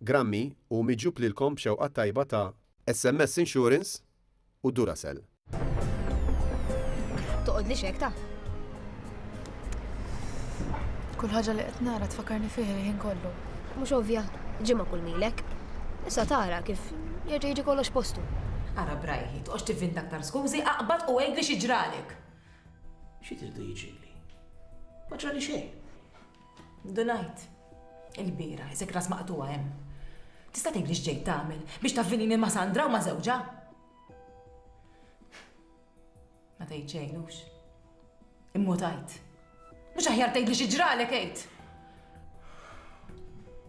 Grammy u miġjub lilkom b'xewqa t-tajba ta' SMS Insurance u Duracell. Toqgħodlix hekk ta. Kull ħaġa li qed nara tfakkarni fih il-ħin kollu. Mhux ovvja, ġimgħa kull milek. Issa tara kif jerġa' jiġi kollox postu. Ara brajħi, toqgħodx tivvinta aktar skużi, aqbad u għidli xi ġralek. Xi tridu jiġrilli? Ma ġrali xejn. Dunajt, il-bira, isek ras maqtuwa hemm. Tista' tgħidli x'ġej tagħmel biex tavvinini ma' Sandra u ma' żewġha? Ma tgħid xejn hux. Immutajt. Mhux aħjar tgħidli xi ġralek għid.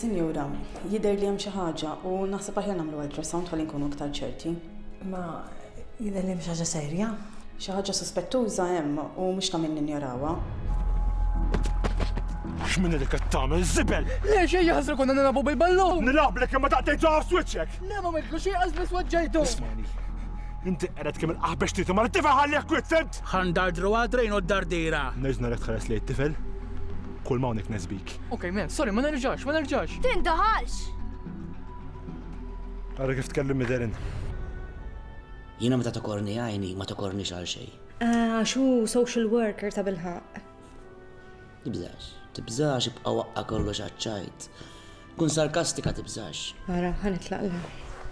Sinjura, jidher li hemm xi ħaġa u naħseb aħjar nagħmlu ultrasound ħalli nkunu iktar ċerti. Ma jidher li hemm xi ħaġa serja? Xi ħaġa suspettuża hemm u mhux ta' min ninjorawha. X'min li qed tagħmel żibel? Le xejn jaħsru konna nilagħbu bil-ballun. Nilgħablek imma daqtejt ġo switchek. Le ma mitlu xi qas biss waġġajtu. Ismani. Inti qered kemm il-qaħbex tieti ma lit-tifel ħallih kwiet, semt? Ħa ndardru għad-drejn u d-dardiera! Nerġa' narek tħares lejn it-tifel? Kull ma hawnhekk ness bik. Ok, mem, sorry, ma nerġax, ma nerġax! Tindaħalx! Ara kif tkellem Midelin. Jiena meta tokorni għajni ma tokornix għal xejn. Għax hu social worker tabilħaqq. Tibżax, tibżax ibqa' waqqa' kollox għaċ-ċajt. Kun sarkastika tibżax. Ara, ħa nitlaqla.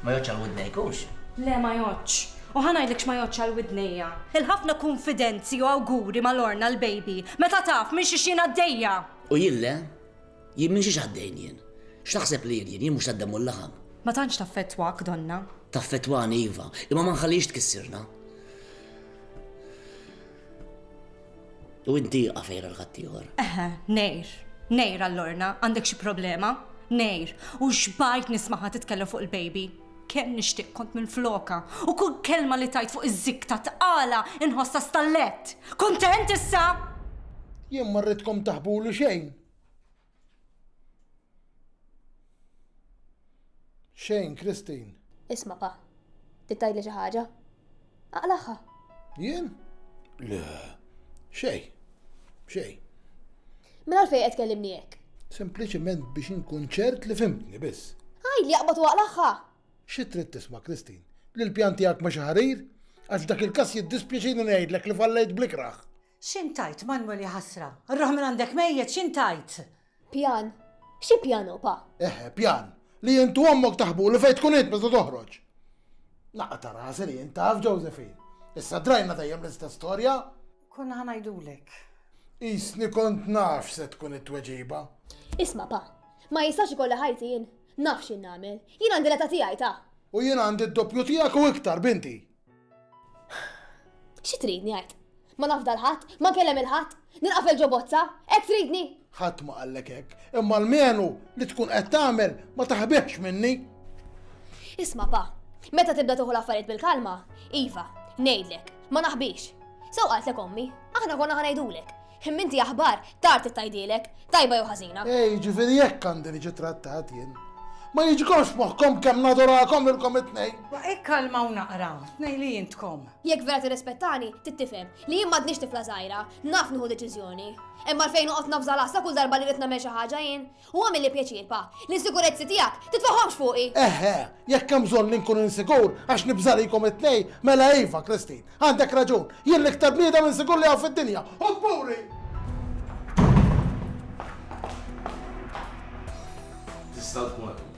Ma jgħoddx għal widnejk hux? Le ma jgħoddx. U ħa ngħidlek x'ma jgħoddx għal widnejja. Il-ħafna kunfidenzi u awguri ma' Lorna l-baby, meta taf minn xiex jien għaddejja! U jien le? Jien minn xiex għaddejn jien? X'taħseb li jien jien? Jien mhux tad-demm u l-laħam. Ma tantx taffettwak, donna. Taffettwani iva, imma ma nħallihiex tkissirna. U inti għafejra l-ħattijħor. Eħe, nejr. Nejr għall-orna, għandek xi problema? Nejr, u xbajt nismaħa titkellem fuq il-baby. Kemm nixtieq kont minn floka, u kull kelma li tajt fuq iż-zik ta' tqala inħossa stallett. Kuntent issa? Jien ma rridkom taħbulu xejn. Xejn, Christine. Isma' pa. Trid tgħidli xi ħaġa? Aqlaħħa. Jien? Le. Xej. Xej. Mela għalfejn qed kellimni hekk? Sempliċiment biex inkun ċert li fimtni biss. Għaj li jaqbad waqlaħħa. Xi trid tisma' Kristin? Li l-pjan tiegħek ma xi ħarir? Għax dak il-każ jiddispjaċini ngħidlek li fallejt blikraħ. X'int għidt, Manwel ja ħasra. Rruħ minn għandek mejjet, x'int għidt? Pjan? Xi pjan hu pa? Eħe, pjan. Li int u ommok taħbulu fejn tkun int meta toħroġ. Naqqa' ta' rasi li int taf, Josephine. Issa drajna dejjem l-istess storja. Konna ħa ngħidulek. Qisni kont naf x'se tkun it-tweġiba. Isma' pa, ma jistax ikolli ħajti jien. Naf x'in nagħmel. Jien għandi l-età tiegħi ta'. U jien għandi d-doppju tiegħek u iktar, binti. Xi tridni għid? Ma nafda l-ħadd, ma kellem il-ħadd, nilqafel ġo bozza, hekk tridni? Ħadd ma qallek hekk, imma l-menu li tkun qed tagħmel ma taħbihx minni. Isma' pa, meta tibda tuħu l-affarijiet bil-kalma, iva, ngħidlek, ma naħbix. Sew qaltlek ommi, aħna konna ħa ngħidulek. Imma inti aħbar, tard ittgħidilek, tajba jew ħażina. E jiġifieri hekk għandi niġi trattat jien? Ma jiġikomx f'moħħkom kemm nadurakom lilkom it-tnejn? Ma ikkalmaw naqra, tnejn li intkom. Jekk vera tirrispettani, trid tifhem li jien m'għadnix tifla żgħira, naf nieħu deċiżjoni. Hemm għalfejn noqgħod nafża l-għasla kull darba li rrid nagħmel xi ħaġa jien? U għamilli pjaċir, Pa, li s-sikurezzi tiegħek titfagħhomx fuqi! Eħe, jekk hemm bżonn li nkun insikur għax nibża' likom it-tnejn, mela iva, Christine, għandek raġun, jien l-iktar bniedem insikur li hawn fid-dinja, u kburi! Tista' tkun.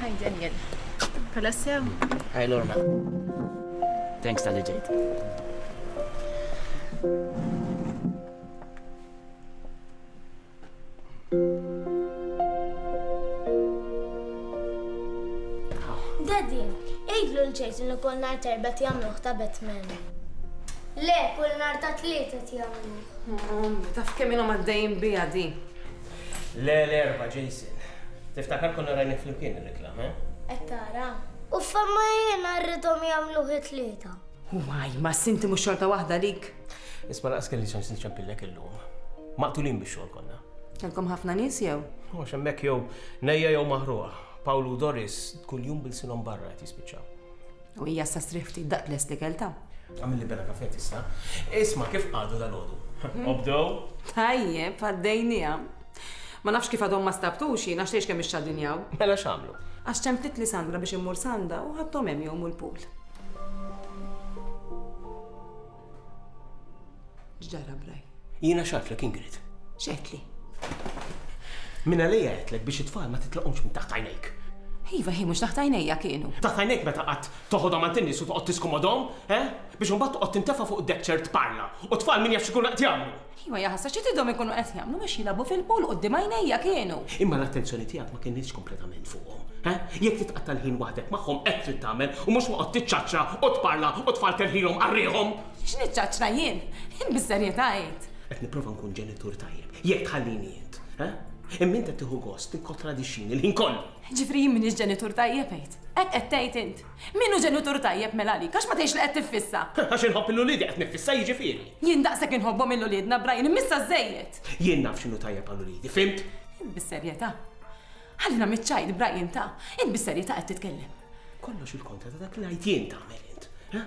Hi Daniel. Kolla sew? Hi Lorna. Thanks tal-li ġejt. Daddy, ejdlu l-ġejt li kull nar terba jagħmluh ta' Batman. Le, kull nar ta' tlieta jagħmlu. Ommi, taf kemm ilhom għaddejjin biha di? Le, l-erbgħa, Jason. Tiftakar konna rajnih flimkien ir-reklam, eh? Qed tara. U femma jiena rridhom jagħmluh it-tlieta. Waj, ma sinti mhux xorta waħda lik. Isma' laqas kelli xans niċċempillek illum. Maqtulin biex xogħol konna. Kellkom ħafna nies jew? Mhux hemmhekk jew nejja jew maħruqa. Pawlu u Doris kuljum bilsinhom barra qed jispiċċaw. U hija issa strieħ ftit daqt lest l-ikel ta. Għamilli bella kafè tista'. Isma' kif qagħdu dalgħodu? Obdew? Tajjeb, għaddejnieha. Ma nafx kif għadhom ma stabtux jien għax tgħidx kemm ixxadinjaw. Mela x'għamlu? Għax ċemplitli Sandra biex immur s'għandha u ħadthom hemm jgħumu l-pool. X'ġara braj? Jiena x'għedtlek Ingrid? X'għedtli? Minn għalija għedtlek biex it-tfal ma titlaqhomx minn taħt għajnejk. Iva, hi mhux taħt għajnejja kienu. Taħt għajnejk meta qatt toħodhom għand in-nies u toqgħod tiskomodhom, eh? Biex imbagħad toqgħod tintefa' fuq id-deck chair tparla u t-tfal min jaf x'ikunu qed jagħmlu! Iva, ja ħasra, xi tridhom ikunu qed jagħmlu biex jilagħbu fil-pool quddiem għajnejja kienu! Imma l-attenzjoni tiegħek ma kinitx kompletament fuqhom, he? Jekk titqatta' l-ħin waħdek magħhom hekk trid tagħmel u mhux toqgħod tiċċaċċra u tparla u tfalter ħilhom għal riħhom! X'niċċaċċra jien? Jien bis-serjetà għidt. Qed nipprova nkun ġenitur tajjeb, jekk tħallini int, he? Imma int qed tieħu gost tikkontradixxini l-ħin kollu! Ġifieri jien m'iniex ġenitur tajjeb għidt? Hekk qed tgħid int? Min hu ġenitur tajjeb mela għalik? Għax ma tgħidx li qed tiffissa? Għax inħobb lil uliedi qed niffissa jiġifieri. Jien daqshekk inħobbhom lil uliedna, Brian, immissha żżejjed! Jien naf x'inhu tajjeb għal uliedi, fhimt? Int bis-serjetà? Ħallina miċ-child, Brian, ta! Int bis-serjetà qed titkellem? Kollox il-kontra ta' dak li ngħid jien tagħmel int, ha?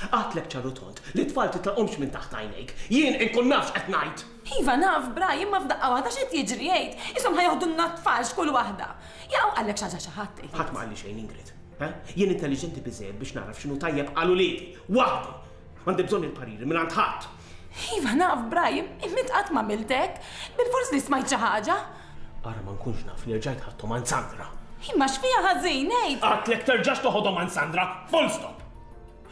Għidtlek ċar u tond li t-tfal titlaqhomx minn taħt għajnejk. Jien inkun naf x'qed ngħid! Iva naf, Brian, imma f'daqqa waħda x'qed jiġri, għid? Qishom ħa joħdulna t-tfal x'kull waħda! Jaqgħu qalek xi ħaġa xi ħadd, għid? Ħadd ma qalli xejn, Ingrid. Ha? Jien intelliġenti biżżejjed biex nagħraf x'inhu tajjeb għal uliedi, waħdi! M'għandi bżonn il-pariri mingħand ħadd! Iva naf, Brian, imma int qatt m'għamilt hekk. Bilfors li smajt xi ħaġa. Ara ma nkunx naf li rġajt ħadthom għand Sandra. Imma x'fiha ħażin, ngħid! Għedtlek terġax toħodhom għand Sandra, full stop!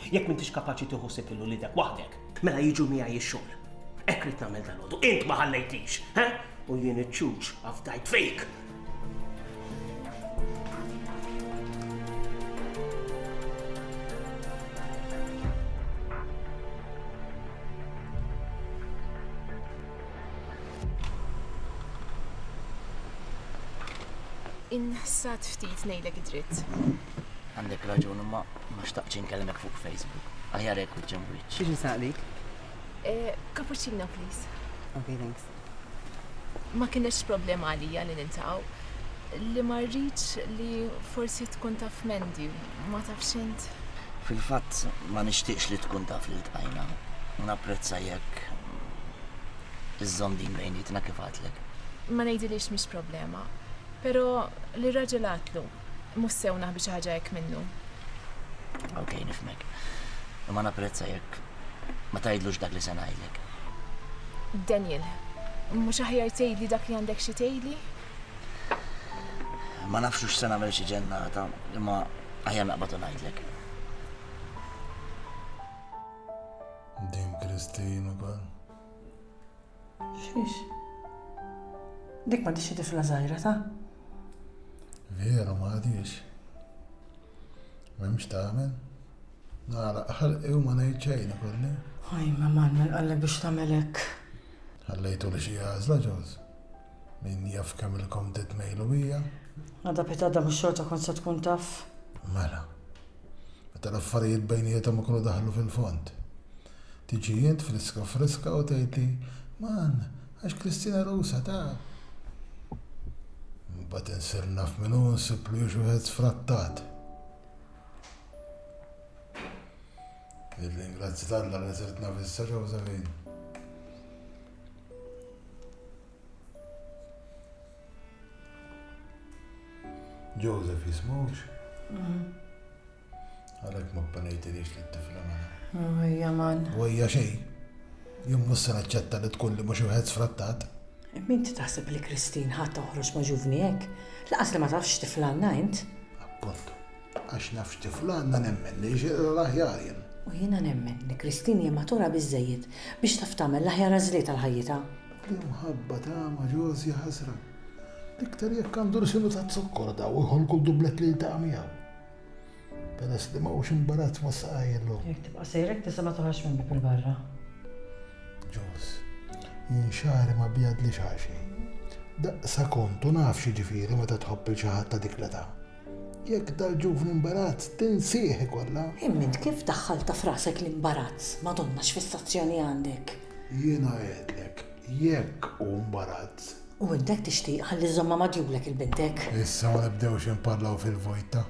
Jekk m'intix kapaċi tieħu ħsieb lil uliedek waħdek, mela jiġu miegħi x-xogħol. Hekk ridt nagħmel dalgħodu. Int ma ħallejtix, ha? U jien iċ-ċuċ afdajt fik! Inħsad ftit ngħidlek id-dritt. Għandek raġun, imma ma xtaqtx inkelmek fuq Facebook. Aħjar hekk wiċċ hemm wiċċ. Biex nsaqlik? Eh, cappuccino, please. Okay, thanks. Ma kienx problema għalija li nintaw li ma rridx li forsi tkun taf mendi, ma tafx int. Fil-fatt ma nixtieqx li tkun taf li tqajna. Napprezza jekk iżżomm din bejnietna kif għatlek. Ma ngħidilix mhix problema, però li raġel għatlu Mhux sew naħbi xi ħaġa hekk minnu. Okej, nifhmek. Imma napprezza jekk ma tgħidlux dak li se ngħidlek. Daniel, mhux aħjar tgħidli dak li għandek xi tgħidli? Ma nafx hux se nagħmel xi ġennata, imma aħjar naqbad u ngħidlek. Din Christine ukoll. Xiex? Dik ma tixi tifla zaħira ta? Vera ma għadix. Memx tamen? Nara, ħalqi u ma nejt xejn kolli. Oj, ma Manuel għallek biex tamelek. Għallejtu li xie għazla ġoz. Min jaf kemm il-kom titmejlu hija. Għada pitada mux xorta kon se tkun taf. Mela. Meta l-affarijiet bejnietom ikunu daħlu fil-fond. Tiġi int friska friska u tgħidli, Man, għax Kristina Rusa taf! Imbagħad insir naf min hu u nsiblu hi x'wieħed sfrattat. Nirringrazzja t'Alla li sirt naf issa Josephine. Joseph jismux? Mm-hmm. Għalek ma panejtinix li t-tifla mela. Għajja man. Għajja xej. Jum mussa naċċetta li tkun li mux uħed sfrattat. Min ti taħseb li Kristin ħat toħroġ ma ġuvni hekk? Laqas li ma tafx tifla għanna int? Appuntu. Għax nafx tifla għanna nemmen li jxirra l-aħjar jen. U jina nemmen li Kristin hija matura biżejjed biex taf tagħmel l-aħjar għażliet għal ħajjita. L-imħabba ta' ma ġożi ħasra. Iktar jekk għandu l-sinu ta' zokkor daw iħolku dublet li ta' miegħu. Peress li ma hux imbarazz ma saqajlu. Jekk tibqa' sejr hekk tista' ma toħroġx minn bieb il-barra. Ġos, jien xagħri ma bjadlix għal xejn. Daqsa kont u naf x'jiġifieri meta tħobb il xi ħadd ta' dik l-età. Jekk dal-ġuvni imbarazz tinsih ikollha. Imma int kif daħħaltha f'rasek l-imbarazz, Madonna x'fissazzjoni għandek? Jiena għedtlek, jekk hu mbarazz, U int hekk tixtieq ħalli żżommha magħdjulek il-bintek? Issa ma nibdewx inparlaw fil-vojt ta'.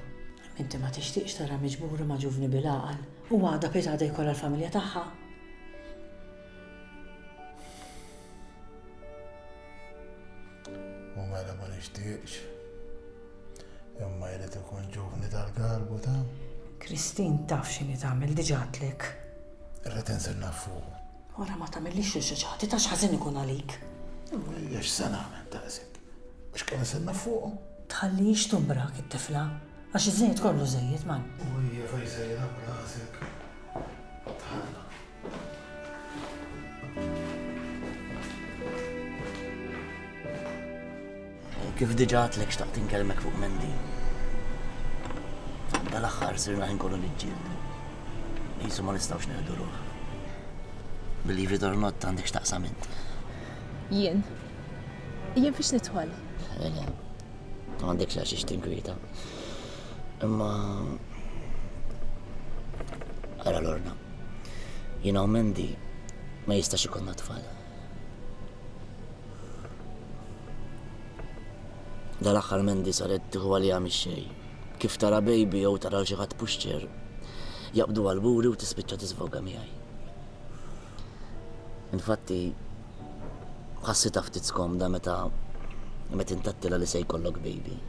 Inti ma tixtieqx taraha miġbura ma' ġuvni bil-għaqal u għadha bħiet għadha jkollha l-familja tagħha? U mela ma nixtieqx. Imma jrid ikun ġuvni tal-galbu ta'. Kristin taf x'inhi tagħmel diġà għadtlek. Irrid inżilna fuq. Wara ma tagħmillix riċeċati ta' x'ħażin ikun għalik. Imma x'se nagħmel daqshekk? Mhux qiegħed nistenna fuqhom. Tħallihiex tumbrak it-tifla, għax iż-żejjed kollu żejjed man. U hija fejn se jilgħab b'rasek? Dħalna. Kif diġa għadtlek xtaqt inkellmek fuq Mendi. Dal-aħħar sirna ħin kollu niġġieldu. Jisu ma nistgħux neħdu ruħ. Billi ritornot għandek xtaqsam int. Jien. Jien fiex nidħol. Ejja. Ma għandekx għax ix tinkwieta. Imma Ara l-orna. Jina u Mendi ma jistax ikonna tfal. Dal-aħħar Mandy saret tieħu għaliha mix-xejn. Kif tara baby jew tara lil xi ħadd pushchair, jaqbduha l-buri u tispiċċa tiżvoga miegħi. Infatti, ħassitha ftit skomda meta meta intattilha li se jkollok baby.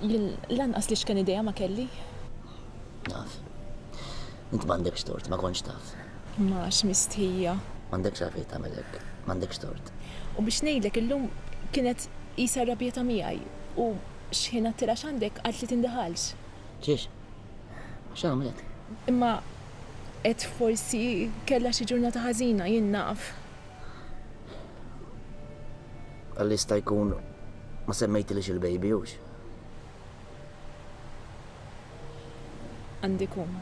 Jien lanqas li xken idea ma kelli. Naf. Int m'għandekx tort, ma kontx taf. M'għax mistħija. M'għandekx għalfejn tagħmel hekk. M'għandekx tort. U biex ngħidlek, illum kienet qisha rrabjata miegħi u xħin għattilha x'għandek qalt li tindaħalx. Xiex? X'għamlet? Imma għedt forsi kellha xi ġurnata ħażina, jien naf. Qal li jista' jkun ma semmejtilix il-baby, hux? Għandi ikun.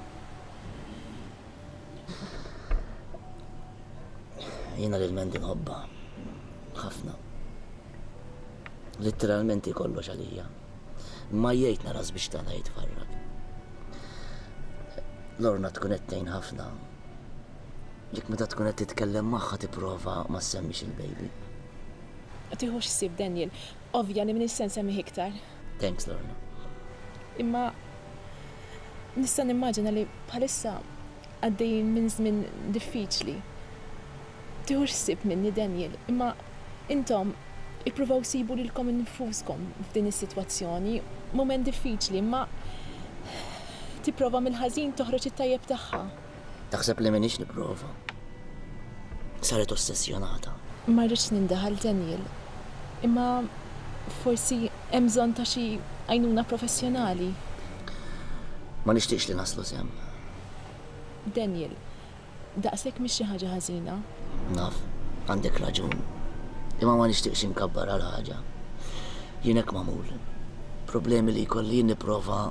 Jiena lil Mandy nħobba. Ħafna. Litteralment hi kollox għalija. Ma jgħid naras biex tagħna jitfarrak. Lorna tkun qed tgħin ħafna. Jekk meta tkun qed titkellem magħha tipprova ma semmix il-baby. Tieħu x'sib Daniel. Ovvja li m'iniex se nsemmih iktar. Thanks Lorna. Imma nista' nimmaġina li bħalissa għaddejjin minn żmien diffiċli. Tieħu ħsieb minni Daniel, imma intom ippruvaw sibu lilkom innfuskom f'din is-sitwazzjoni, mument diffiċli, imma tipprova mill-ħażin toħroġ it-tajjeb tagħha. Taħseb li m'iniex nipprova. Saret ossessjonata. Ma rridx nindaħal Daniel, imma forsi hemm bżonn ta' xi għajnuna professjonali. Ma nixtieqx li naslu sehem. Daniel, daqshekk mhix xi ħaġa ħażina. Naf, għandek raġun. Imma ma nixtieqx inkabbar għal ħaġa. Jien hekk magħmul. Problemi li jkolli jien nipprova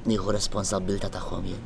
nieħu responsabbiltà tagħhom jien.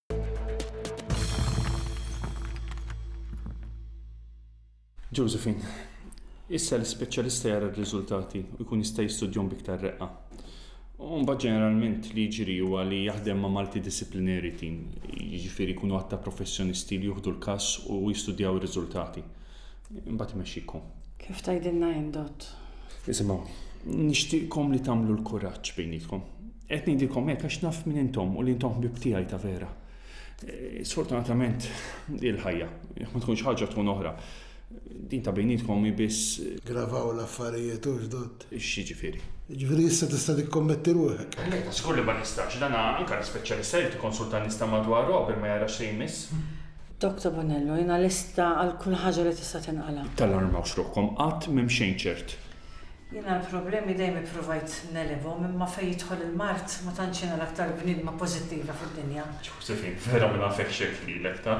Josephine, issa l-ispeċjalista jara r-riżultati u jkun jista' jistudjahom b'iktar reqqa. U mbagħad ġeneralment li jiġri huwa li jaħdem ma' multidisciplinary team, jiġifieri jkunu għadd ta' professjonisti li juħdu l-każ u jistudjaw ir-riżultati. Imbagħad imexxikom. Kif tgħidilna jien, Dott? Isimgħu, nixtieqkom li tagħmlu l-kuraġġ bejnietkom. Qed ngħidilkom hekk għax naf min intom u li intom ħbieb tiegħi ta' vera. Eh, sfortunatament il-ħajja, ma tkunx ħaġa tkun oħra. Din ta' bejnietkom hi biss. Eh, Gravaw l-affarijiet u ġdod. Xi ġifieri? Ġifieri issa tista' tikkommetti ruħek. Lejta, żgur li ma nistax, dan anke l-ispeċjalista jrid ikonsulta nies ta' madwaru qabel ma jara xi jmiss. Dr. Bonello, jiena lesta għal kull ħaġa li tista' tinqala'. Tallarmawx ruħkom, qatt m'hemm xejn ċert. Jiena l-problemi dejjem ippruvajt negħlibhom imma fejn jidħol il-mard ma tantx jiena l-aktar bniedma pożittiva fid-dinja. Ġożefin, Vera ma nafekx hekk lilek ta.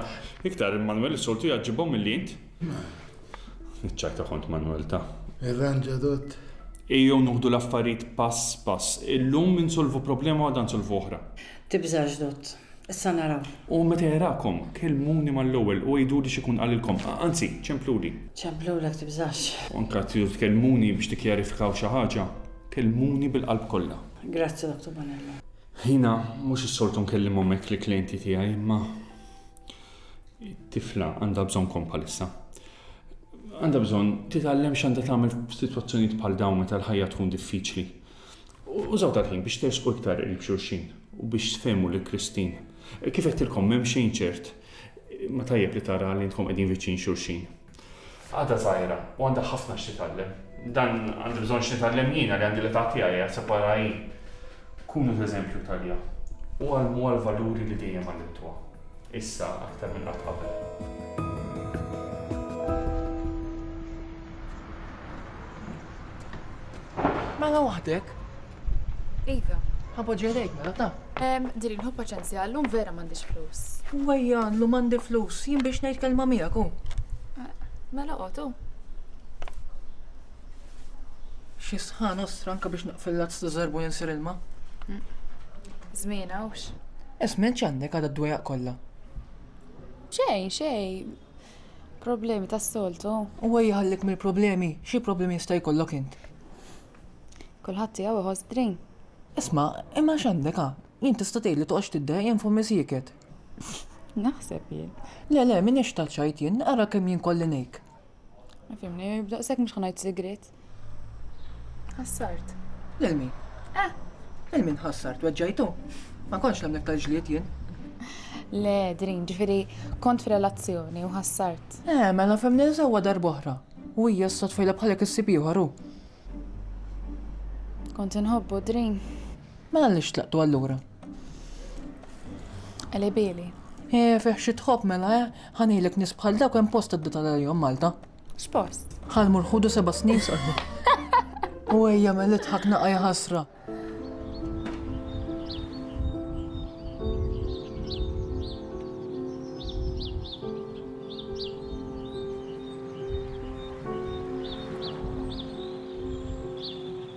Iktar il-Manwel is-soltu jgħaġġibhom milli int. Manwel, Iċ-ċajta kont Manwel ta. Irranġa dott. Ejjew noħdu l-affarijiet pass pass. Illum insolvu problema u għada nsolvu oħra. Tibżax dott. Issa naraw. U meta jarakom, kellmuni mal-ewwel u għiduli x'ikun qalilkom, anzi, ċempluli. Ċemplulek, tibżax. U anke tridu tkellmuni biex tikkjarifikaw xi ħaġa, kellmuni bil-qalb kollha. Grazzi, Dottor Bonello. Jiena mhux is-soltu nkellimhom hekk lill-klijenti tiegħi, imma it-tifla għandha bżonnkom bħalissa. Għandha bżonn titgħallem x'għandha tagħmel f'sitwazzjonijiet bħal dawn meta l-ħajja tkun diffiċli. Użaw dal-ħin biex tersqu iktar qrib xulxin u biex tfehmu lil Christine. Kif għedtilkom m'hemm xejn ċert imma tajjeb li tara li intkom qegħdin viċin xulxin. Għadha żgħira u għandha ħafna x'titgħallem. Dan għandi bżonn x'nitgħallem jiena li għandi l-età tiegħi qed separha hi. Kunu ta' eżempju għalija u għallmuha l-valuri li dejjem għallimtuha. Issa aktar minn qatt qabel. Mela waħdek? Iva. Ħabba ġerejk mela ta. Em, din il-ħu paċenzja, l-lum vera m'għandix flus. Wejja, l-lum għandi flus, jien biex ngħid kelma miegħek u. Eh, mela qotu. Xi sħan ostra anke biex naqfil lazz ta' żerbu jinsir ilma. Mm. Żmien hawnx. Ismen x'għandek għadha d-dwejaq kollha. Xej, xej, Problemi tas-soltu. Huwa jħallek mill-problemi. Xi problemi jista' jkollok int? Kulħadd tiegħu iħoss b'drin. Isma', imma x'għandek ha? Jien tista' tgħidli toqgħodx tiddeħ jien fommi sieket. Naħseb jien. Le, le, m'iniex ta' ċajt jien, ara kemm jien kollinejk. Ma fhimni, b'daqshekk mhux ħa ngħid sigriet. Ħassart. Lil min? Eh. Lil min ħassart weġġajtu? Ma kontx nemnek tal-ġlied jien. Le, Drin, ġifieri kont f'relazzjoni u ħassart. Eh, mela femni sewwa darb'oħra. U hija s tfejla bħalek issib ieħor hu. Kont inħobbu Drin. Mela li xtlaqtu allura. Eli bili. Eh, fih xi tħobb mela, eh, ħanilek nis bħal dawk hemm post id tal-jom Malta. X'post? Ħal mur ħudu seba' snin sqalbu. U ejja mel idħak naqa' ħasra.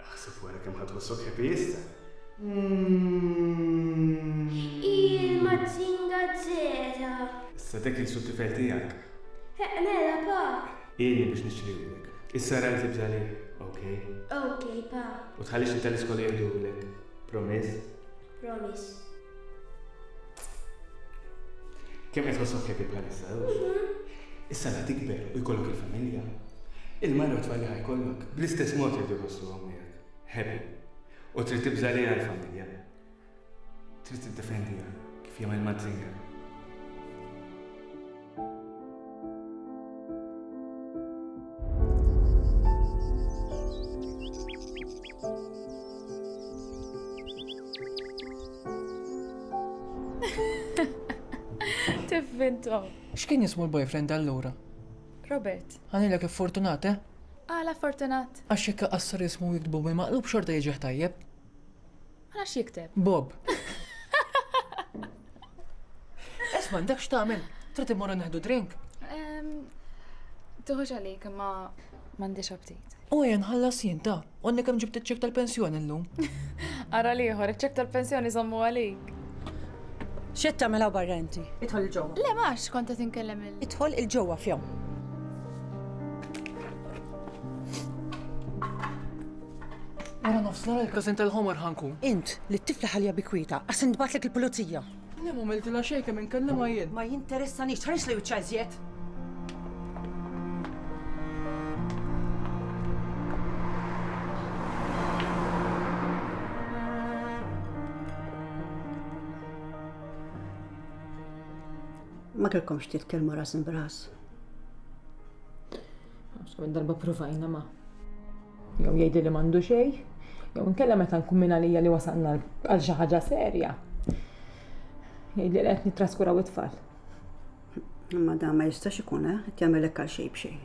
Aħseb wara kemm ħadd tħossok happy issa. Ijjl mazinga zera. Issa dak il-sud tifel tiegħek. Heq mela pa. Ieni biex nixtrihulek. Issa rajt li bżali, ok? Ok pa. U tħallix li tal-iskola jirdulek. Promise? Promise. Kemm qed tħossok happy bħalissa Issa la tikber u jkollok il-familja. Il-mara u tfal li ħajkollok bl-istess mod jridu jħossu hawnhekk. Happy. U trid tibża' li l-familja. Trid tiddefendiha kif jagħmel mażżinga. Tivvintom. X'kien jismu l-boyfriend allura? Robert. Għanilek fortunat, eh? Għala fortunat. Għax jekk qassar jismu jiktbu bil-maqlub xorta jiġi tajjeb. Għalax jikteb? Bob. Esma, dak x'tagħmel? Trid immorru neħdu drink? Tuħux għalik, ma m'għandix aptit. U jen ħallas jien ta' għanni kemm ġibt iċ-ċek tal-pensjoni llum. Ara liħor, iċ-ċek tal-pensjoni żommu għalik. Xed tagħmel hawn barra inti? Idħol il-ġewwa. Le max kont qed inkellem il. Idħol il-ġewwa fjaw. Wara nofsnar il-każin tal-ħomor ħa nkun. Int, li t-tifla ħalliha bi kwietha, għax intbagħtlek il-pulizija. Le m'għamiltilha xejn kemm inkellimha jien. Ma jinteressanix, tħarislu wiċċha iżjed! Ma kellkomx titkellmu ras imbras. Għax kemm darba provajna ma. Jew jgħidli li m'għandu xejn, jew inkella meta nkun minn għalija li wasalna għal xi ħaġa serja. Jgħidli li qed nittraskuraw it-tfal. Imma dan ma jistax ikun, eh? Qed jagħmelek għal xejn b'xejn.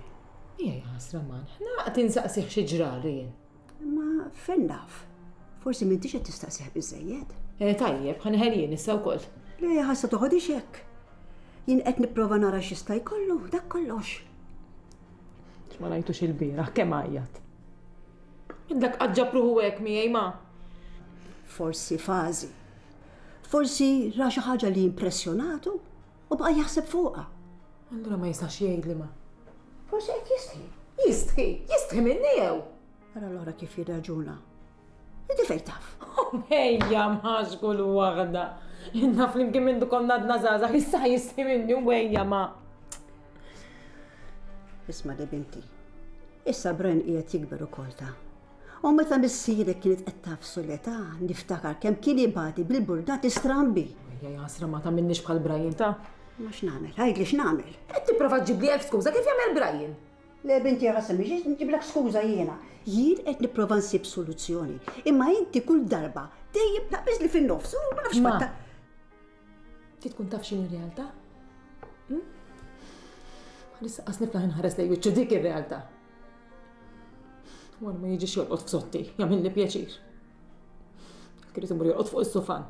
Ejja ħasra man, ħna tinsaqsih xi ġrali jien. Imma fejn naf? Forsi m'intix qed tistaqsih biżejjed. Eh, tajjeb, ħanħel jien issa wkoll. Le, ħassa toħodix hekk. Jien qed nipprova nara x'jista' jkollu, dak kollox. Ma rajtux il-bieraħ, kemm għajjat. Dak qaġġa pruħu hekk miegħi ma. Forsi fażi. Forsi ra xi ħaġa li impressjonatu u bqa' jaħseb fuqha. Allura ma jistax jgħid li ma. Forsi qed jistħi. Jistħi, jistħi minni jew. Ara l-ora kif jirraġuna. Inti fejn taf? Ejja mażku l waħda. Inna flimkien minn dukom nadna zaza, issa jisli minni u ejja ma. Isma di binti. Issa Bren qiegħed jikber ukoll ta' U meta missirek kienet qed tafsu l-età, niftakar kemm kien ibati bil-burdati strambi. Ja jasra ma ta' minnix bħal Brian ta' Ma x'namel, għajdli x'namel. Qed tipprova ġibli elf skuża kif jagħmel Brian. Le binti ja Ħasan biex nġiblek skuża jiena. Jien qed nipprova nsib soluzzjoni, imma inti kull darba dejjem taqbiżli fin-nofs u ma nafx ma. Ti tkun taf x'in ir-realtà? Hm? Għalissa qas niflaħ inħares lej wiċċu dik ir-realtà. Wara ma jiġix jolqot f'sotti, jagħmilni pjaċir. Kienet imur jolqot fuq is-sufan.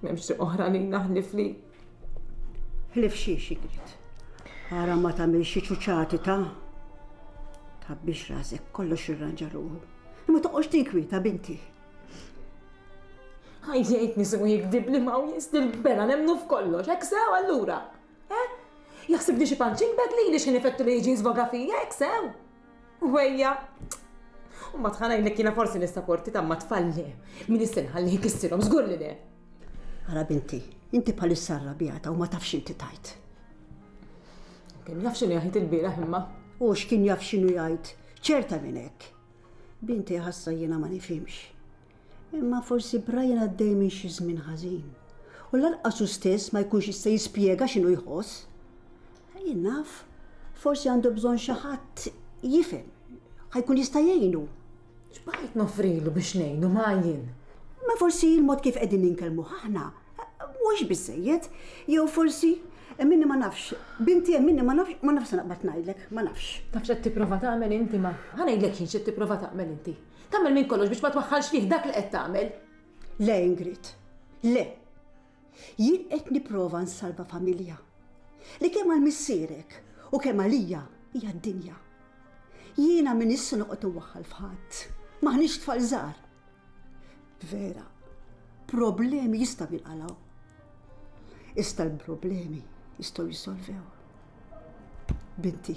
M'hemmx triq oħra lina ħlief li. Ħlief xi xigrit. Ara ma tagħmel xi ċuċati ta' tħabbix rasek kollox irranġa ruħu. Imma toqgħodx tinkwieta binti. Ħajjejt nisu jikdib li ma' jistil bela nemnu f'kollox, hekk sew allura. Eh? Jaħsib li xi panċin bedli li xi nifettu li jiġi żvoga fija, hekk sew. Wejja! U ma tħana jnek jina forsi nista porti ta' ma tfalli. Min istinħal li jkissirhom żgur li le. Ara binti, inti palissa arrabjata u ma tafx inti tajt. Kien jaf xinu jgħid il-bira imma. U x'kien jaf xinu jgħid, ċerta minn hekk. Binti ħassa jiena ma nifhimx. Imma forsi Brian għaddej minn xi żmien ħażin, u lanqas hu stess ma jkunx jista' jispjega x'inhu jħoss. Jien naf, forsi għandu bżonn xi ħadd jifhem, ħa jkun jista' jgħinu. X'baqajt noffrilu biex ngħinu ma jien? Ma forsi l-mod kif qegħdin ninkellmu aħna mhux biżejjed, jew forsi minni ma nafx, binti hemm minni ma nafx, ma nafx se naqbad ngħidlek, ma nafx. Tafx qed tipprova tagħmel inti ma. Ħa ngħidlek jien x'qed tipprova tagħmel inti. Tagħmel minn kollox biex ma twaħħalx fih dak li qed tagħmel. Le Ingrid, le. Jien qed nipprova nsalva familja li kemm għal missierek u kemm għalija hija d-dinja. Jiena min issa noqgħod inwaħħal f'ħadd. M'aħniex tfal żgħar. Vera, problemi jista' jinqalgħu. Ista l-problemi jistgħu jisolvew. Binti,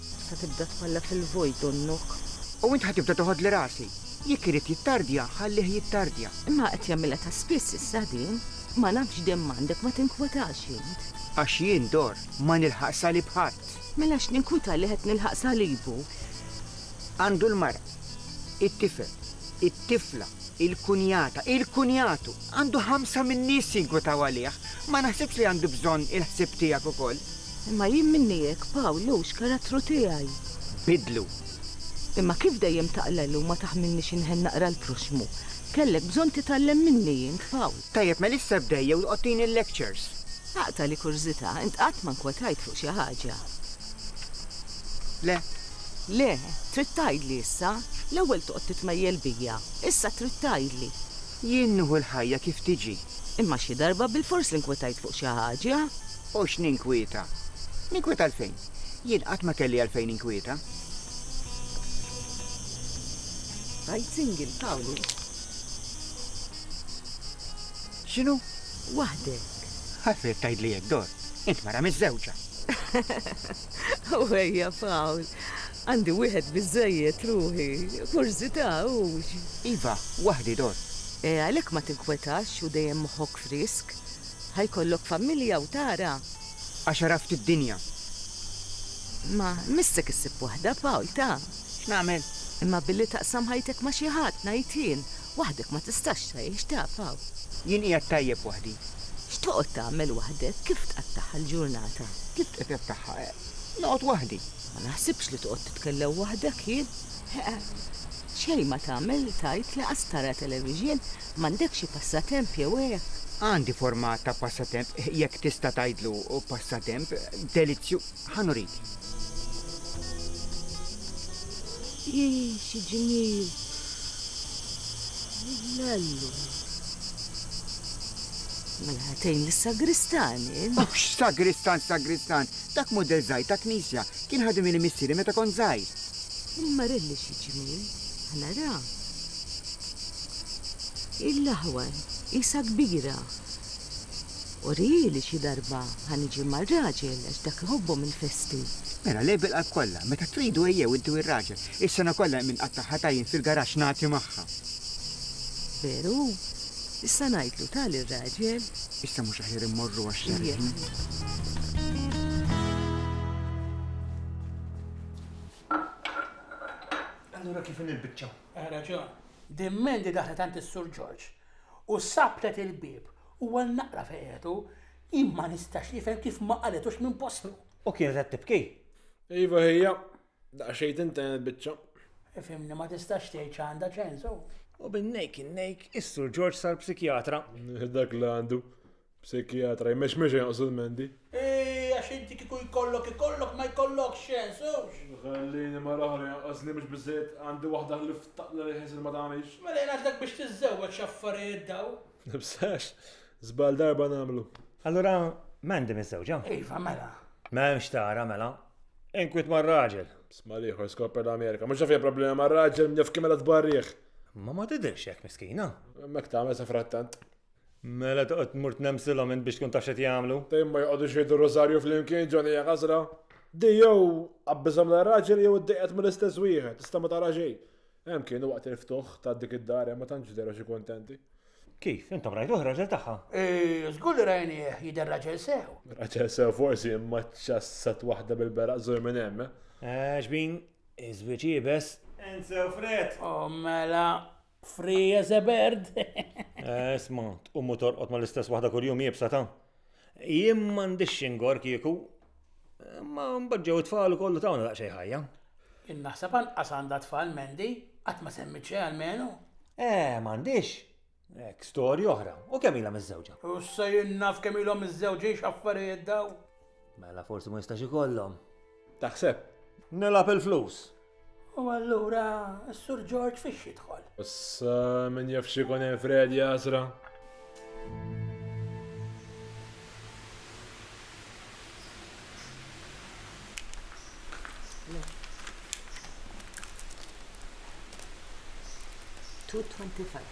Sa tibda tpalla fil-vojt donnok. U int ħa tibda toħodli rasi. Jekk irid jittardja, ħallih jittardja. Imma qed jagħmilha ta' spiss issa din. Ma nafx dehmm għandek ma tinkwetax int. Għax jien dor ma nilħaq salib ħadd. Mela x'ninkwita li qed nilħaq salibu. Għandu l-mara, it-tifel, it-tifla, il-kunjata, il-kunjatu. Għandu ħamsa min-nies jinkwetaw għalih. Ma naħsibx li għandu bżonn il-ħsieb tiegħek ukoll. Imma jien minni hekk, Pawl, hu x'karattru tiegħi. Biddlu. Imma kif dejjem taqlel u ma taħmilnix inħenn naqra l-proxxmu, kellek bżonn titgħallem minni int, Pawl. Tajjeb, Melissa bdejja u tqgħod tini l-lectures. Aqta' l-kurżità, int qatt ma nkwetajt fuq xi ħaġa? Le. Le, trid tgħidli issa? L-ewwel toqgħod titmejjel bija, issa trid tgħidli. Jien nieħu l-ħajja kif tiġi. Imma xi darba bilfors inkwetajt fuq xi ħaġa. U x'ninkwieta? Ninkwieta għalfejn? Jien qatt ma kelli għalfejn ninkwieta. Għid single, Pawlu. X'inhu? Waħdek. Ħassiet tgħidli hekk, Dor. Int mara miżżewġa. U ejja, Pawl. Għandi wieħed biżżejjed ruħi. Kurżità, hux? Iva, waħdi, Dor. E għalhekk ma tinkwetax u dejjem moħħok frisk. Ħa jkollok familja u tara. Għax għaraft id-dinja. Imma missek issib waħda, Pawl, ta. X'nagħmel? Imma billi taqsam ħajtek ma' xi ħadd, ngħid jien. Waħdek ma tistax tgħix, ta, Pawl. Jien qiegħed tajjeb waħdi. X'toqgħod tagħmel waħdek? Kif tqattagħha l-ġurnata? Kif tqtattagħha? Noqgħod waħdi. Ma naħsibx li toqgħod titkellem waħdek jien. Xejn ma tagħmel, tgħid, lanqas tara televixin. M'għandekx xi passatemp jew hekk? Għandi forma ta' passatemp, jekk tista' tgħidlu passatemp, delizzju. Ħa nurik. Hi, xi ġmiel! L-allu. Mela ħatejn lis-sagristan, int? Oh, x'sagristan, sagristan! Dak mudell żgħir ta' knisja, kien ħadem ili missieri meta kont żgħir. Il-marelli xi ġmiel, ħa nara. Il-laħwa qisha kbira. Urieli xi darba ħa niġi mar-raġel għax dak iħobbhom il-festi. Mela lejh bil-qalb kollha. Meta tridu ejjew inti u r-raġel. Is-sena kollha hemm inqatta' ħatajn fil-garaxx nagħti magħha. Veru? Issa ngħidlu ta' lir-raġel. Issa mhux aħjar immorru għax-xarrejn? Allura kif inhi l-biċċa? Għal raġun. Din Mandy daħlet għand is-Sur George u sabbtet il-bieb u għal naqra fejqetu, jien ma nistax nifhem kif ma qalitux minn postu. U kienet qed tibki? Iva hija, daqsxejn tintenet biċċa. Ifhimni ma tistax tgħid x'għandha ċensu. U bin-nejk in-nejk is-Sur George sar psikjatra. Dak li għandu. Psikjatra, jmex mexa jaqsu l-mendi. Ej, għax inti kiku jkollok ikollok ma jkollok xen, sewx. Ħallini ma l-oħra janqas li mhux biżejjed għandi waħda ħlief taqla li ħisil ma tagħmilx. Mela jien għażlek biex tiżżewweġ x'affarijiet daw. Nibsax, żball darba nagħmlu. Allura Mandy miżżewġa? Iva, mela. M'hemmx tara mela. Inkwiet mar-raġel. Sma l-ieħor skopper l-Amerika. Mhux naf problema mar-raġel minn jaf kemm mela tbarrih. Ma ma tidhirx hekk miskina. Mek tagħmel sa frattant. Mela toqgħod tmur tnemsilhom int biex tkun taf x'qed jagħmlu. Dejjem ma joqogħdux jgħidu rożarju flimkien ġoni hija ħasra. Di jew qabbiżhom lir-raġel jew iddejqet mill-istess wieħed, tista' ma tara xejn. Hemm kienu waqt il-ftuħ ta' dik id-dar hemm ma tantx deru xi kuntenti. Kif? Intom rajtuh raġel tagħha? Eh, żgur li rajnieh jidher raġel sew. Raġel sew forsi imma ċassat waħda bil-beraq żur minn hemm. Eh, eh xbin, iżwiċ iebes. Ensew fred. Oh, mela, Free as a bird. Eh, isma, tqum u torqod ma l-istess waħda kull-jum jibsa ta' Jien m'għandix xingor kieku, ma mbagġew it-tfal kollu tawna daqsxejn ħajja. Innaħseb anqas għandha tfal Mendi, qatt ma semmit xejn għalmenu. Eh, m'għandix. Ek storja oħra. U kemm ilha miżżewġa? U se jinnaf kemm ilhom miżżewġin x'affarijiet daw. Mela forsi ma jistax ikollhom. Taħseb, nilgħab il-flus. U allura s-Sur George fiex jidħol? Issa min jaf xikun hemm Fred jasra. Two twenty-five.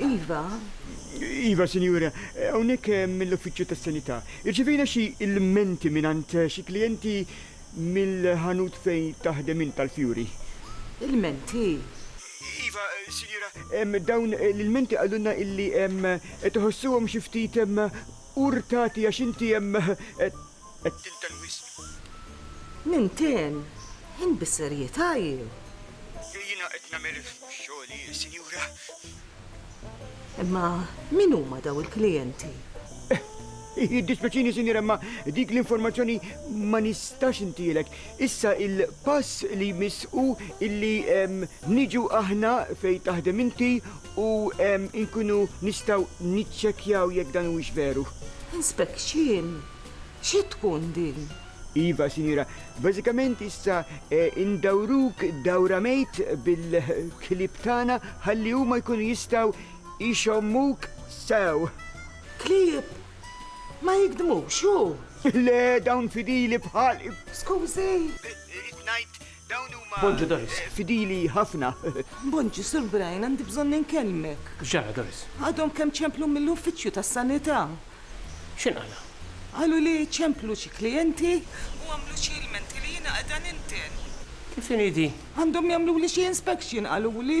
Iva. Iva, sinjura, hawnhekk eh, mill-Uffiċċju tas-Sanità. Irċivejna xi ilmenti mingħand eh, xi klijenti mill-ħanut fejn taħdem int tal-fjuri. Ilmenti? Iva, eh, sinjura, em, dawn eh, l-ilmenti qalulna illi em, eh, tħossuhom xi ftit em, urtati għax inti em, eh, Qed tinten wisq. Ninten? Int bis-serjetà jew? Le, jiena qed nagħmel xogħli, sinjura. Imma min huma dawn il-klijenti? Jiddispjaċini, sinjura, imma dik l-informazzjoni ma nistax intielek. Issa il-pass li jmiss hu illi niġu aħna fejn taħdem inti u nkunu nistgħu niċċekkjaw jekk dan huwiex veru. Inspection? Xi tkun din? Iva, Sinjura. Bażikament issa indawruk dawra mejt bil-klieb tagħna ħalli huma jkunu jistgħu jxommuk sew. Klieb? Ma jigdmux, hu? Le, dawn fidili bħal. Skużi! Irrid ngħid Bonġu Doris, fidili ħafna. Bonġu Sur Brian, għandi bżonn inkellmek. X'ġara Doris? Għadhom kemm ċemplu mill-uffiċċju tas-sanità. X'in qala? Qalu li ċemplu xi klijenti u għamlu xi ilmenti li jiena qiegħda ninten. Kif inhi di? Għandhom jagħmluli xi inspection qaluli.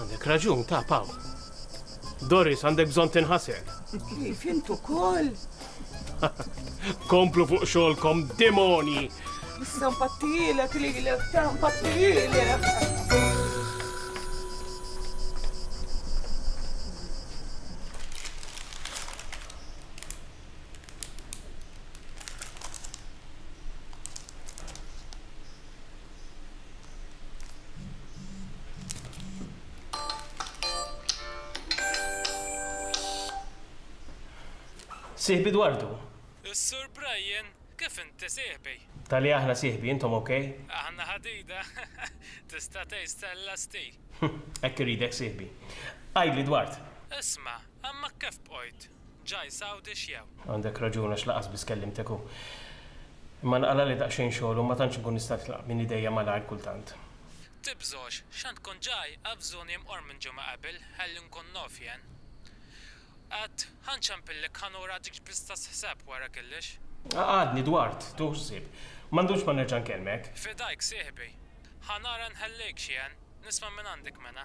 Għandek raġun, ta' Paul. Doris, għandek bżon tinħasel. Kif intu kol? Komplu fuq xolkom, demoni! Issa mpattijilek li l-ek, ta' mpattijilek. Sieħbi Dwardu! Is-Sur Brian, Kif inti, sieħbi? Tali aħna, sieħbi, intom ok? Aħna ħadida! Tista' tgħid Stella Stee! Hekk iridek, sieħbi. Għidli, Dward! Isma', għammak kif bqajt? Ġaj Sawdi x'jew? Għandek raġun għax laqas biss kellimtek u. Imma nqalali daqsxejn xogħol u ma tantx nkun nista' nitlaq minn idejja malajr kultant. Tibżgħux, x'għand tkun ġaj, avżuni mqorr minn ġimgħa qabel ħalli nkun nof jien. Għad, ħa nċempillek ħa nura dik x'bista sħseb wara killex. Għadni dwart, tuh ħsieb. Ma ndumx ma nerġa' nkellmek. Fidajk sieħbi. Ħa nara nħellejkx jien, nisma' minn għandek mena.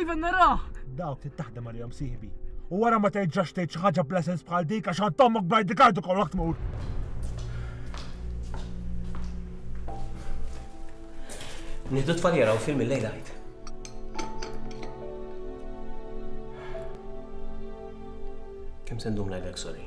Iva naraħ! Dawk trid taħdem għalihom sieħbi. U wara ma terġax tgħid xi ħaġa bla sens bħal dik għax għand ommok bajdi kardu kollha tmur. Niddu tfaljera u film il-lejla għajt. Kem sendum lajlek sorry.